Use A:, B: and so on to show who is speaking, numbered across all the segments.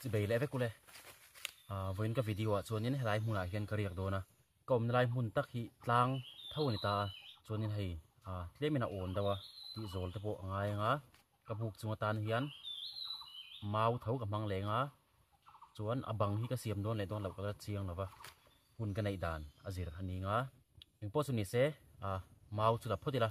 A: chi bei le vek ule a voin ka video ah chuan in helai hmun ah hian ka riak dawn a ka awmna lai hmun tak hi tlang tho ani ta chuan in hei a tlem in a awn deuh a tih zawl te pawh a ngai anga ka buk chunga tan hian mau tho ka hmang leng a chuan a bang hi ka siam dawn leh dawn lo ka la chiang lo va, hun ka neih dan a zir a ning a, eng pawh chu ni se a mau chu la phawt ila.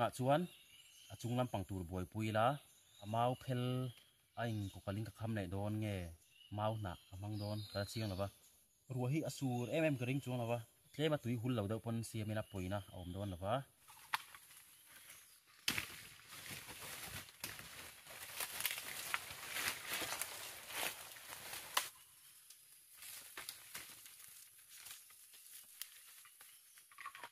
A: tunah chuan a chung lampang tur buaipui ila a mau phel a in kawkalin ka kham neih dawn nge mau hnah ka hmang dawn ka la chiang lo va. Ruah hi a sur em em ka ring chuang lo va, tlem a tui hul lo deuh pawn siam in a pawi na a awm dawn lo va.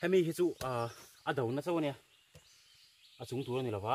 A: hemi hi chu a a do na chau ania a chung tur ani lova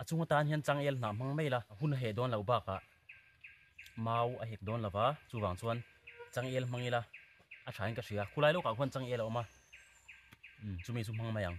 A: A chhung atan hian changel hnah hmang mai la hun a heh dawn lo bakah mau a hek dawn lo va, chuvang chuan changel hmang ila a thain ka hria. Khulai lawkah khuan changel a awm a, umm chumi chu hmang mai ang.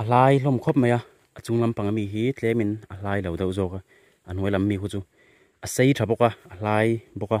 A: A hlai hlawm khawp mai a, a chung lampanga mi hi tlemin a hlai lo deuh zawk a, a hnuai lam mi ho chu a sei tha bawk a, a hlai bawk a.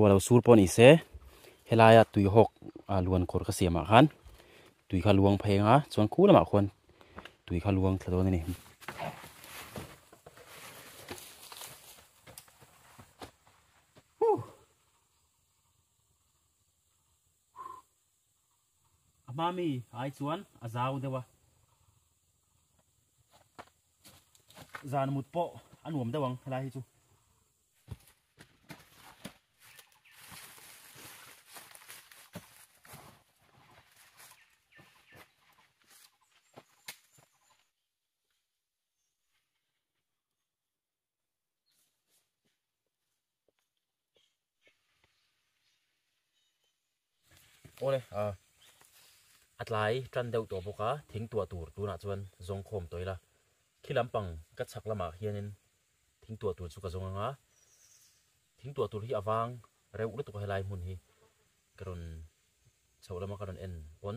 A: Rualo sur pawh nise helaia tui hawk a luan kawr ka siamah khan tui kha luang phei anga chuan khu lamah khuan tui kha luang thla dawn a ni. A hma mi ai chuan a zau deuh a. Zan mut pawh a nuam deuh ang helai hi chu. ole a atlai tran deuh tawh bawk a thing tuah tur tunah chuan zawng khawm tawh ila khi lampang ka chhak lamah hianin thing tuah tur chu ka zawng anga thing tuah tur hi avang reuh lutuk a helai hmun hi ka rawn chhoh lama ka rawn en pawn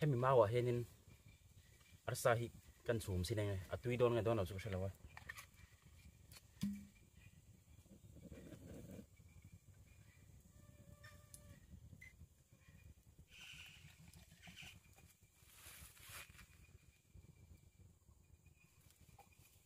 A: hemi mau ah hianin arsa hi kan chum sin enge a tui dawn nge dawn lo chu ka hre lo a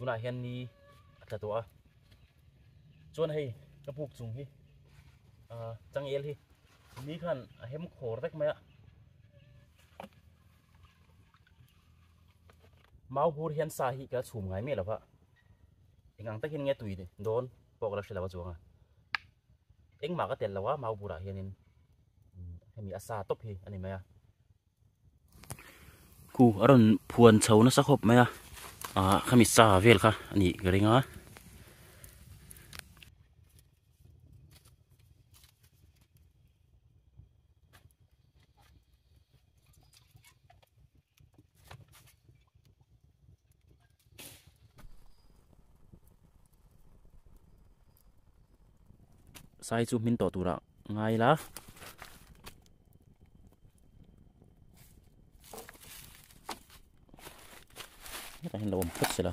A: tunah hian ni a tla tawh a chuan hei ka buk chung hi a changel hi ni khan a hem khawr vek mai a mau hur hian sa hi ka chhum ngai mai lova engang takin nge tui don pawk la hrilova chuanga engmah ka tel lo a mau hurah hianin hemi a sa top hi a ni mai a khu a rawn phuan chho nasa khawp mai a a khami sa vel kha a nih ka ring a sai chu min tawh tura ngai la ta hin lo om phut sila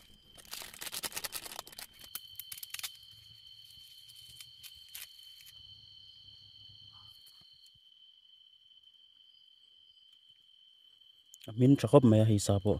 A: a hmin tha khawp mai a hei sa pawh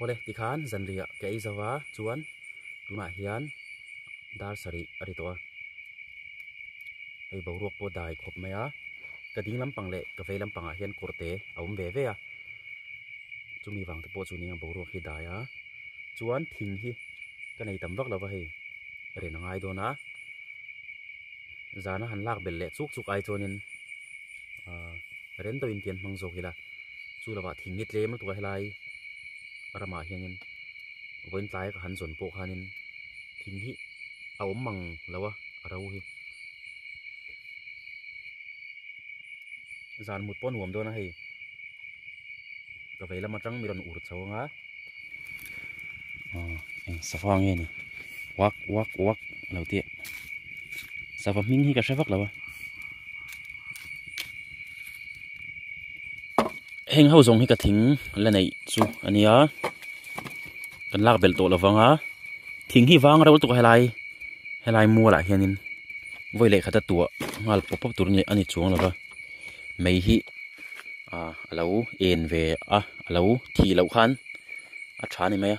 A: Aw le, tikhan zanriah ka ei zo va, chuan tunah hian dar sarih a ri tawh a, hei boruak pawh dai khawp mai a, ka ding lampang leh ka vei lampangah hian kawr te a awm ve ve a, chumi vang te pawh chu nia boruak hi dai a, chuan thing hi ka nei tam vak lo va hei, ren a ngai dawn a. zana han lak belh leh chuk chuk ai chuanin ah rento in tih an hmang zawk ila chu lovah thing hi tlem lutuk a helai ramah hianin vawiin tlai ka han zawn pawh khanin thing hi a awm ang lo a a ro hi zan mut pawh a nuam dawn a hei ka vei lam atang mi rawn ur chho ang a. eng sava nge ni uak uak uak a lo ti a sava hming hi ka hre vak lo a heng ho zawng hi ka thing la neih chu a nia kan lak belh tawh lo vang a thing hi vang rol tuk a helai helai mual ah hian in vawi lehkha te tuah nghal pawp pawp tur a ni chuang lo va. mei hi ah a lo en ve a a lo thi loh khan a tha ni mai a.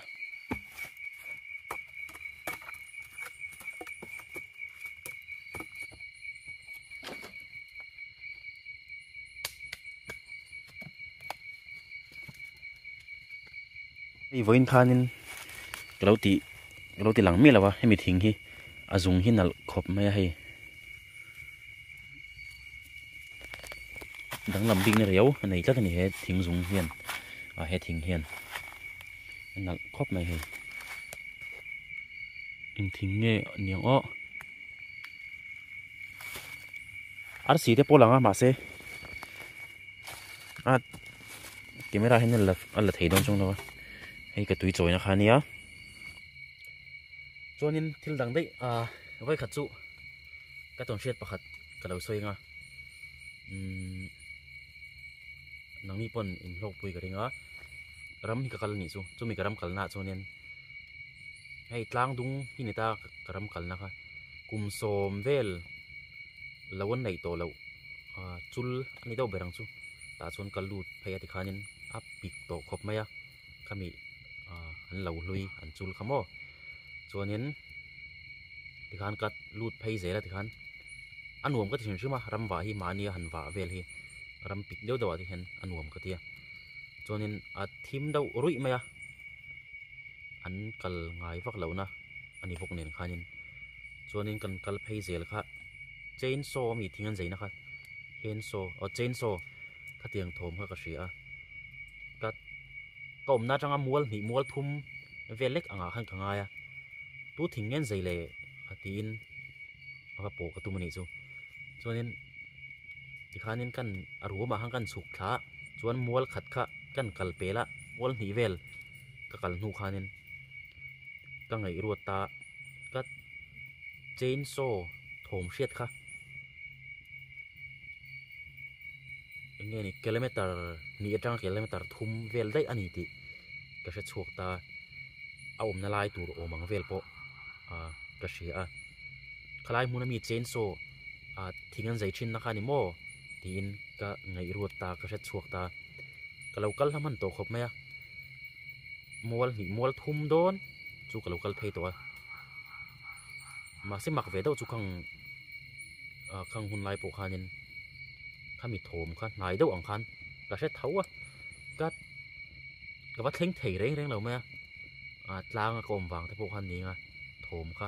A: Hei vawiin khanin ka lo ti ka lo ti lang miah lo a hemi thing hi a zung hi nalh khawp mai a hei. danglam bikna riau a nei tlat a ni he thing zung hian ah he thing hian a nalh khawp mai hei in thing nge ni ang aw arsi te pawh langa mahse a camera hian a la thei dawn chung lo a hei ka tui chawina kha nia chuanin thil dang daih a vai khat chu ka tawn hriat pakhat ka lo sawi nga umm nang mi pawn in hlawk pui ka ring a ram hi ka kal anih chu chumi ka ram kal na ah chuan in hei tlang dung hi ni ta ka ram kal na kha kum sawm vel lo an neih tawh loh chul ani deuh ber ang chu tah chuan ka lut phei a ti khan in a pik tawh khawp mai a. khami ah an lo hlui an chul kha maw chuanin tikhan ka lut phei zel a tikhan a nuam ka ti hrim hrim a ram vah hi mahni a han vah vel hi ram pit deuh deuh ah te hian a nuam ka ti a chuanin a thim deuh ruih mai a an kal ngai vak lo na a ni bawk nen khanin chuanin kan kal phei zel kha chainsaw a mi thing an zai na kha chainsaw aw chainsaw khatiang thawm kha ka hria a. ka ka awmna atanga mual hnih mual thum vel lek angah khan ka ngai a tu thing ngen zai le a tiin a va pawh ka tum a nih chu chuanin tikhanin kan a ruamah khan ka inchhuk thla a chuan mual khat kha ka inkal pel a mual hnih vel-- ka kal hnu khanin ka ngaihruat ta ka chain saw thawm hriat kha enge ni kilometer hnih atanga kilometer thum vel daih a ni tih ka hre chhuak ta a awmna lai tur awm ang vel pawh ah ka hria a khalai hmuna mi chain saw ah thing an zei thinna kha a ni maw. tiin ka ngaihruat ta ka hretchhuak ta ka lo kal hlam han tawh khawp mai a mual hnih mual thum dawn chu ka lo kal phei tawh a mahse mak ve deuh chu khang ah khang hun lai pawh khanin khami thawm kha hnai deuh ang khan ka hre tho a ka ka va thleng thei reng reng lo mai a ah tlanga ka awm vang te pawh khan ning a thawm kha.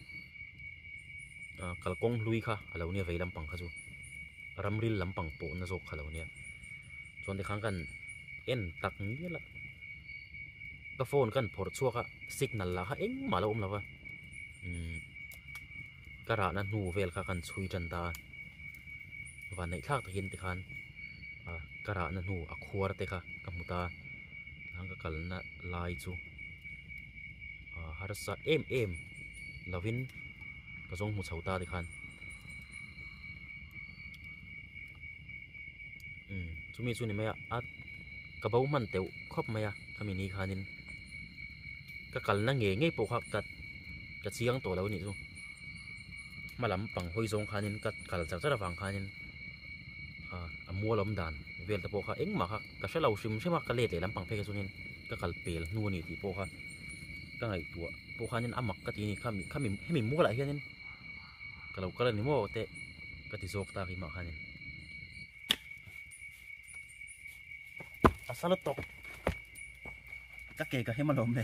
A: ah kalkawng hlui kha a lo nia vei lampang kha chu ramril lampang pawhna zawk kha lo nia chuan tikhang khan en tak mial a ka phone kha an phawrh chhuak a signal lah kha engmah a lo awm lo va umm ka rahna hnu vel kha ka han chhui tan ta a vanneih thlak takin tikhan ah ka rahna hnu a khuar te kha ka hmu ta a tikhang ka kalna lai chu. Ahh harsa em em lovin ka zawng hmu chho ta te khan umm chumi chu ni mai a ka bo hman teuh khawp mai a khami ni khanin ka kalna nge nge pawh kha ka ka chiang tawh lo nih chu hma lam pang hawi zawng khanin ka kal char char avang khanin a mualawm dan vel te pawh kha engmah kha ka hrelo hrim hrima ka let leh lampang phei ka chungin. ka kal pel hnu a ni tih pawh kha ka ngaihtuah pawh khanin a mak ka ti a ni kha mi kha mi hemi mual ah hianin ka lo kal a ni maw teh ka ti zawk ta hi mah khanin a sa lutuk ka ke ka hem a lawm le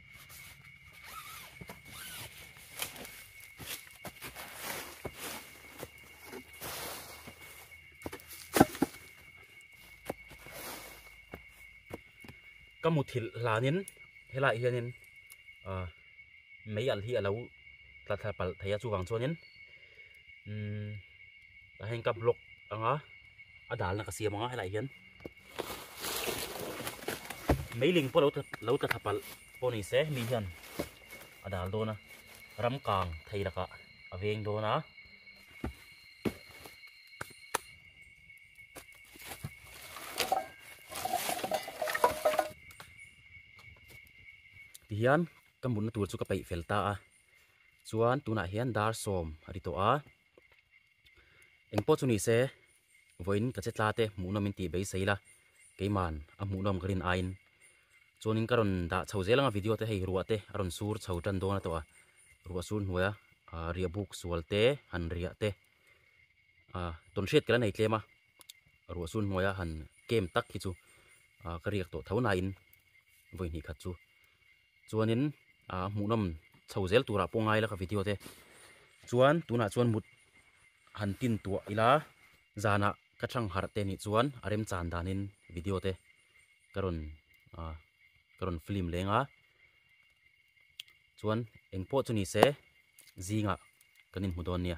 A: ka mu thil hlanin helai hianin a mei alh hi alo tla thla palh thei a chuvang chuanin umm ka heng ka block anga a dalna ka siam anga helaiah hian-- Meiling pawh lo tla tha palh pawh ni se mi hian a dal dawn a, ram kang thei lakah a veng dawn a. Tihian ka mutna tur chu ka peih fel ta a, chuan tunah hian dar sawm a ni tawh a, engpawh chu ni se, Vawiin ka che tla te hmuhnawm in tih beisei la, keiman a hmuhnawm ka rin aiin. Chuanin ka rawn dah chho zel ang a video te hei ruah te a rawn sur chho tan dawn a tawh a, ruah sur hnuaia riahbuk sual te han riah te, tawnhriat ka la nei tlem a, ruah sur hnuaia han kem tak hi chu ka riak tawh tho nain vawi hnih khat chu. Chuanin aa hmuhnawm chho zel turah pawh ngai la ka video te chuan tunah chuan mut han tintuah ila zanah ka thlangharh te nih chuan a remchan danin video te ka rawn aa ka rawn film leng a chuan engpawh chu nise zingah kan inhmu dawn nia.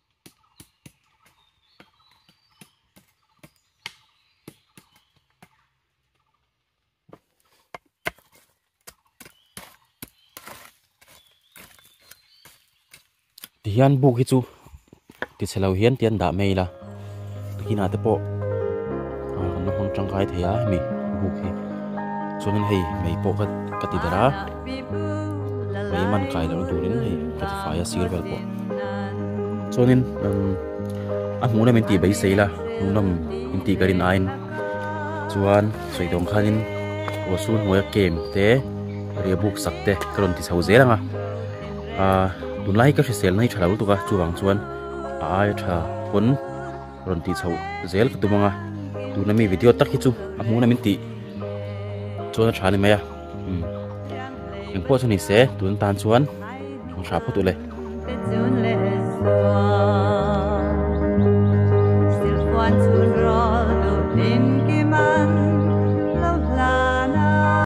A: tihian buk hi chu tichhe lo hian tian dah mai ila. Takina te pawh a kan lo hmang tangkai thei a hemi buk hi chuan hei mei pawh ka ka ti der a mei man kai lo turin hei ka ti fai a sir vel pawh chuanin a hmuhna min ti bai sei la hmuhnawm min ti ka rin ain chuan sawidawn khanin ruahsur hnuaia kem te ria buk sak te ka rawn ti chho zel ang a tunlai ka hrisel mai tha lo lutuk a chuvang chuan a aia tha pawn rawn tih chhoh zel ka tum ang a tuna mi video tak hi chu a hmun a min tih chuan a tha ni mai a eng pawh chu ni se tun tan chuan thang hra phawt u le Silpuan chhun rawlduh hlim ki man